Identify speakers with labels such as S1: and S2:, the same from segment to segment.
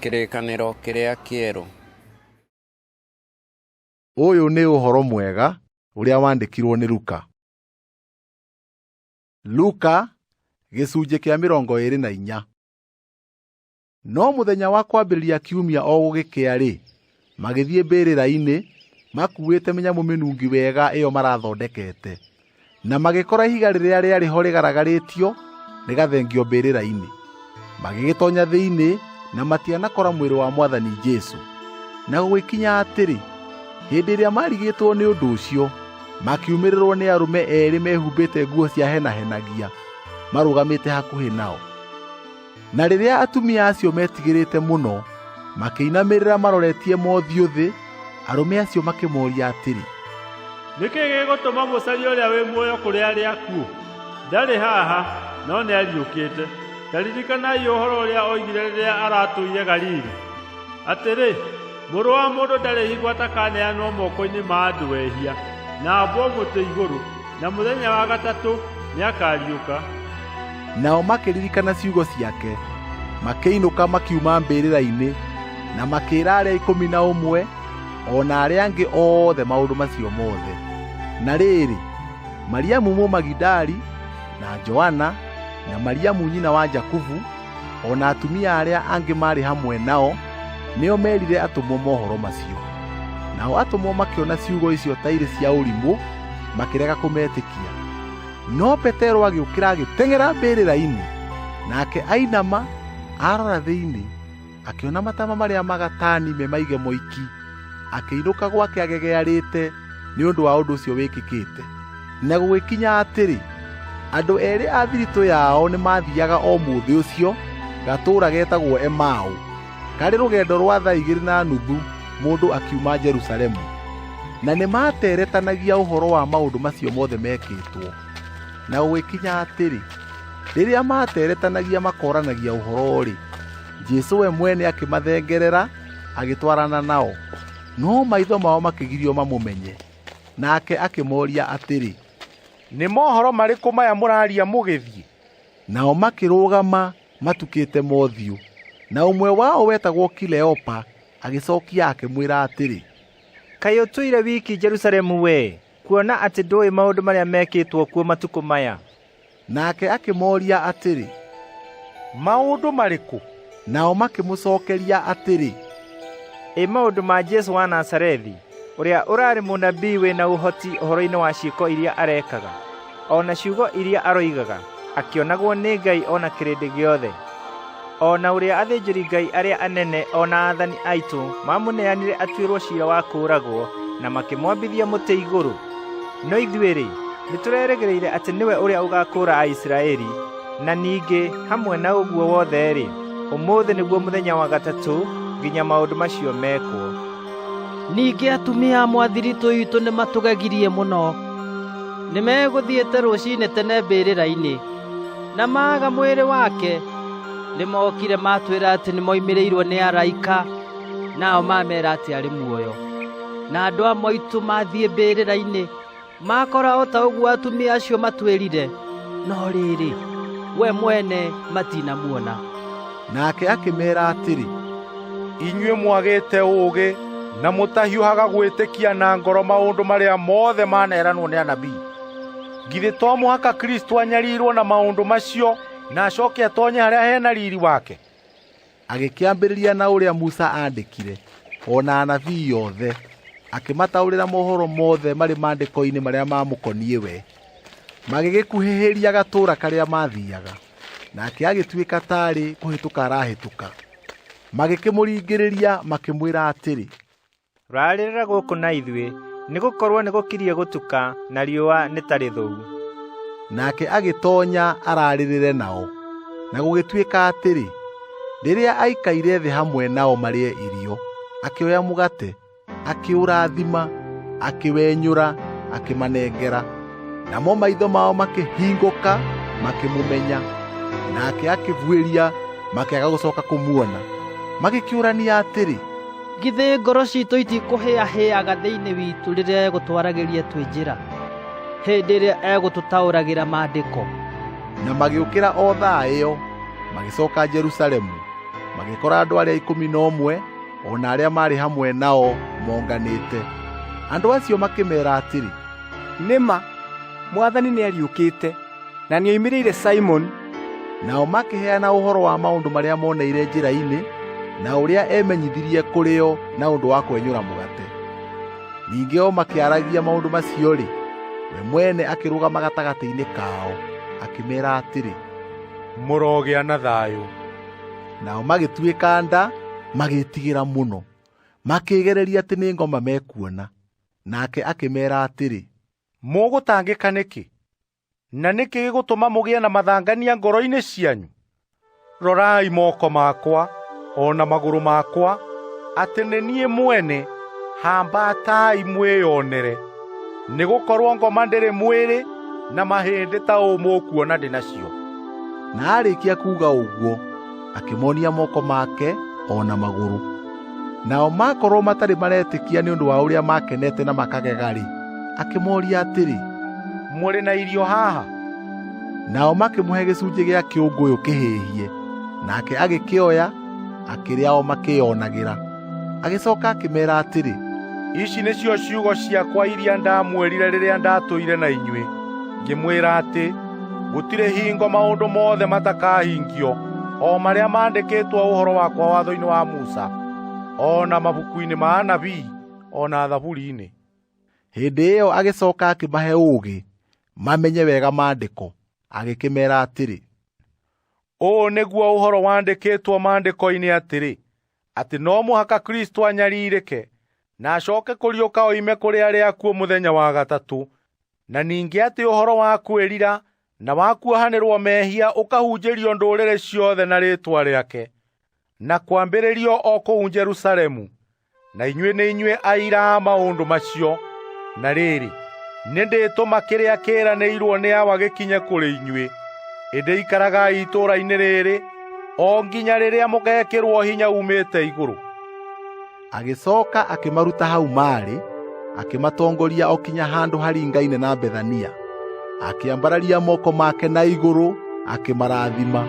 S1: Kĩrĩkanĩro kĩrĩa kĩerũ.
S2: Ũyũ nĩ ũhoro mwega ũrĩa wandĩkirwo nĩ Luka. Luka gĩcunjĩ kĩa mĩrongo ĩĩrĩ na inya. No mũthenya wa kwambĩrĩria kiumia o gũgĩkĩa-rĩ, magĩthiĩ mbĩrĩra-inĩ makuuĩte mĩnyamũ mĩnungi wega ĩyo marathondekete na magĩkora ihiga rĩrĩa rĩarĩ ho rĩgaragarĩtio rĩgathengio mbĩrĩra-inĩ magĩgĩtonya thĩinĩ na matianakora mwĩrĩ wa mwathani Jesu na gũgĩkinya atĩrĩ hĩndĩ ĩrĩa marigĩtwo nĩ ũndũ ũcio makiumĩrĩrwo nĩ arũme eerĩ mehumbĩte nguo cia henahenagia marũgamĩte hakuhĩ nao Na rĩrĩa atumia acio metigĩrĩte mũno, makĩinamĩrĩra maroretie mothiũ thĩ, arũme acio makĩmoria atĩrĩ, nĩkĩ
S3: gĩgũtũma mũcarie ũrĩa wĩ muoyo kũrĩ arĩa akuũ ndarĩ haha no nĩ ariũkĩte ta ririkanai ũhoro ũrĩa oigire rĩrĩa aratũire galili atĩrĩ Mũrũ wa mũndũ ndarĩ higo atakaneanwo moko-inĩ ma andũ ehia, na ambwo mũtĩ igũrũ, na mũthenya wa gatatũ nĩakariũka.
S2: Nao makĩririkana ciugo ciake, makĩinũka makiuma mbĩrĩra-inĩ, na makĩĩra arĩa ikũmi na ũmwe o na arĩa angĩ othe maũndũ macio mothe. Na rĩrĩ, Mariamu Mũmagidali, na Joana, na Mariamu nyina wa Jakubu, O na atumia arĩa angĩ maarĩ hamwe nao nĩo meerire atũmwo mohoro macio. Nao atũmwo makĩona ciugo icio ta irĩ cia ũrimũ, makĩrega kũmetĩkia. No Petero agĩũkĩra agĩteng'era mbĩrĩra-inĩ, nake ainama arora thĩinĩ, akĩona matama marĩa magatani me maige moiki akĩinũka gwake agegearĩte nĩ ũndũ wa ũndũ ũcio wĩkĩkĩte na gũgĩkinya atĩrĩ andũ eerĩ a thiritũ yao nĩ maathiaga o mũthĩ ũcio gatũũra getagwo emaũ karĩ rũgendo rwa thaa igĩrĩ na nuthu mũndũ akiuma jerusalemu na nĩ maateretanagia ũhoro wa maũndũ macio mothe mekĩtwo na gũgĩkinya atĩrĩ rĩrĩa maateretanagia makoranagia ũhoro-rĩ jesu we mwene akĩmathengerera agĩtwarana nao no maitho mao makĩgirio mamũmenye nake akĩmoria atĩrĩ nĩ
S4: mohoro marĩkũ maya mũraria mũgĩthiĩ nao
S2: makĩrũgama matukĩte mothiũ na ũmwe wao wetagwo kileopa agĩcokia akĩmwĩra atĩrĩ kaĩ
S5: ũtũire wiki jerusalemu we kuona atĩ ndũĩ maũndũ marĩa mekĩtwo kuo matukũ maya Nake
S2: akĩmooria atĩrĩ,
S4: maũndũ marĩkũ? Nao
S2: makĩmũcokeria atĩrĩ, ĩ
S5: maũndũ ma Jesu wa Nazarethi, ũrĩa ũrarĩ mũnabii wĩ na ũhoti ũhoro-inĩ wa ciĩko iria arekaga, o na ciugo iria aroigaga, akĩonagwo nĩ Ngai o na kĩrĩndĩ gĩothe. o na ũrĩa athĩnjĩri ngai arĩa anene o na athani aitũ mamũneanire atuĩrwo ciira wa kũũragwo na makĩmwambithia mũtĩ igũrũ no ithuĩ-rĩ nĩtũrerĩgĩrĩire atĩ nĩwe ũrĩa ũgakũũra aisiraeli na ningĩ hamwe na ũguo wothe-rĩ ũmũthĩ nĩguo mũthenya wa gatatũ nginya maũndũ macio mekwo ningĩ
S6: atumia a mwathiritũ itũ nĩmatũgegirie mũno nĩmegũthiĩte rũcinĩ tene mbĩrĩra-inĩ na maaga mwĩrĩ wake nĩmokire matwĩra atĩ nĩmoimĩrĩirwo nĩ araika nao mamera atĩ arĩ muoyo na andũ a moitũ mathiĩ mbĩrĩra-inĩ makora o ta ũguo atumia acio matwĩrire no rĩrĩ we mwene matinamuona nake
S2: akĩmera atĩrĩ inyuĩ
S4: mwagĩte ũũgĩ na mũtahiũhaga gwĩtĩkia na ngoro maũndũ marĩa mothe maneranwo nĩ anabii Githĩ to mũhaka Kristo anyarirwo na maũndũ macio na acoke atonye harĩa hena riri wake? Agĩkĩambĩrĩria
S2: na ũrĩa Musa aandĩkire, o na anabii yothe, akĩmataũrĩra mohoro mothe marĩ maandĩko-inĩ marĩa maamũkoniĩ we. Magĩgĩkuhĩhĩria gatũũra karĩa maathiaga, nake agĩtuĩka taarĩ kũhĩtũka arahĩtũka. Magĩkĩmũringĩrĩria makĩmwĩra atĩrĩ, rarĩrĩra
S5: gũkũ na ithuĩ nĩ gũkorwo nĩ gũkirie gũtuka na riũa nĩ tarĩ thũu nake
S2: agĩtonya ararĩrĩre nao na gũgĩtuĩka atĩrĩ rĩrĩa aikaire thĩ hamwe nao marĩe irio akĩoya mũgate akĩũrathima akĩwenyũra akĩmanengera namo maitho mao makĩhingũka makĩmũmenya nake akĩbuĩria makĩaga gũcoka kũmuona magĩkĩũrania atĩrĩ githĩ ngoro
S6: citũ itikũhĩahĩaga thĩinĩ witũ rĩrĩa egũtwaragĩria twĩ njĩra hĩndĩ ĩrĩa egũtũtaũragĩra maandĩko
S2: na magĩũkĩra o thaa ĩyo magĩcoka jerusalemu magĩkora andũ arĩa ikũmi na ũmwe o na arĩa maarĩ hamwe nao monganĩte andũ acio makĩmeera atĩrĩ Nĩ ma,
S7: Mwathani nĩariũkĩte, na nĩoimĩrĩire Simoni. Nao
S2: makĩheana ũhoro wa maũndũ marĩa moneire njĩra-inĩ, na ũrĩa emenyithirie kũrĩ o na ũndũ wa kwenyũra mũgate. Ningĩ o makĩaragia maũndũ macio-rĩ, we mwene akĩrũgama gatagatĩ-inĩ kao, akĩmeera atĩrĩ, mũrogĩa
S4: na thayũ. Nao
S2: magĩtuĩka nda, magĩĩtigĩra mũno, makĩĩgereria atĩ nĩ ngoma mekuona. Nake akĩmeera atĩrĩ, mũgũtangĩka
S4: nĩkĩ? Na nĩkĩ gĩgũtũma mũgĩe na mathangania ngoro-inĩ cianyu? Rorai moko makwa o na magũrũ makwa, atĩ nĩ niĩ mwene, hambatai mwĩyonere. Nĩ gũkorwo ngoma ndĩrĩ mwĩrĩ na mahĩndĩ ta ũũ mũkuona ndĩ nacio. Na aarĩkia
S2: kuuga ũguo, akĩmonia moko make o na magũrũ nao makorwo matarĩ maretĩkia nĩ ũndũ wa ũrĩa makenete na makagega-rĩ akĩmoria atĩrĩ mũrĩ na
S4: irio haha nao
S2: makĩmũhe gĩcunjĩ gĩa kĩũngũyũ kĩhĩhie nake agĩkĩoya akĩrĩa o makĩyonagĩra agĩcooka akĩmeera atĩrĩ ici nĩcio
S4: ciugo ciakwa iria ndamwĩrire rĩrĩa ndatũire na inyuĩ ngĩmwĩra atĩ gũtirĩ hingo maũndũ mothe matakahingio o marĩa mandĩkĩtwo ũhoro wakwa watho-inĩ wa musa o na mabuku-inĩ ma anabii o na thaburi-inĩ hĩndĩ
S2: ĩyo agĩcooka akĩmahe ũũgĩ mamenye wega maandĩko agĩkĩmeera atĩrĩ
S4: ũũ nĩguo ũhoro wandĩkĩtwo maandĩko-inĩ atĩrĩ atĩ no mũhaka Kristo anyarirĩke na acoke kũriũka oime kũrĩ arĩa akuũ mũthenya wa gatatũ, na ningĩ atĩ ũhoro wa kwĩrira na wa kuohanĩrwo mehia ũkahunjĩrio ndũrĩrĩ ciothe na rĩĩtwa rĩake, na kwambĩrĩrio o kũu Jerusalemu. Na inyuĩ nĩ inyuĩ aira a maũndũ macio. Na rĩrĩ, nĩ ndĩtũma kĩrĩa kĩĩranĩirwo nĩ awa gĩkinye kũrĩ inyuĩ. Ĩndĩ ikaragai itũũra-inĩ rĩrĩ o nginya rĩrĩa mũgeekĩrwo hinya uumĩte igũrũ
S2: agĩcooka akĩmaruta hau maarĩ akĩmatongoria o kinya handũ haringaine na bethania akĩambararia moko make na igũrũ akĩmarathima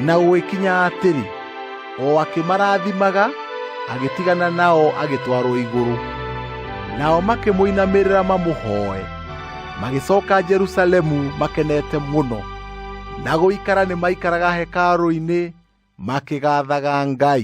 S2: na gũgĩkinya atĩrĩ o akĩmarathimaga agĩtigana nao agĩtwarwo igũrũ nao makĩmũinamĩrĩra mamũhooe magĩcooka jerusalemu makenete mũno na gũikara nĩ maikaraga hekarũ-inĩ makĩgaathaga Ngai.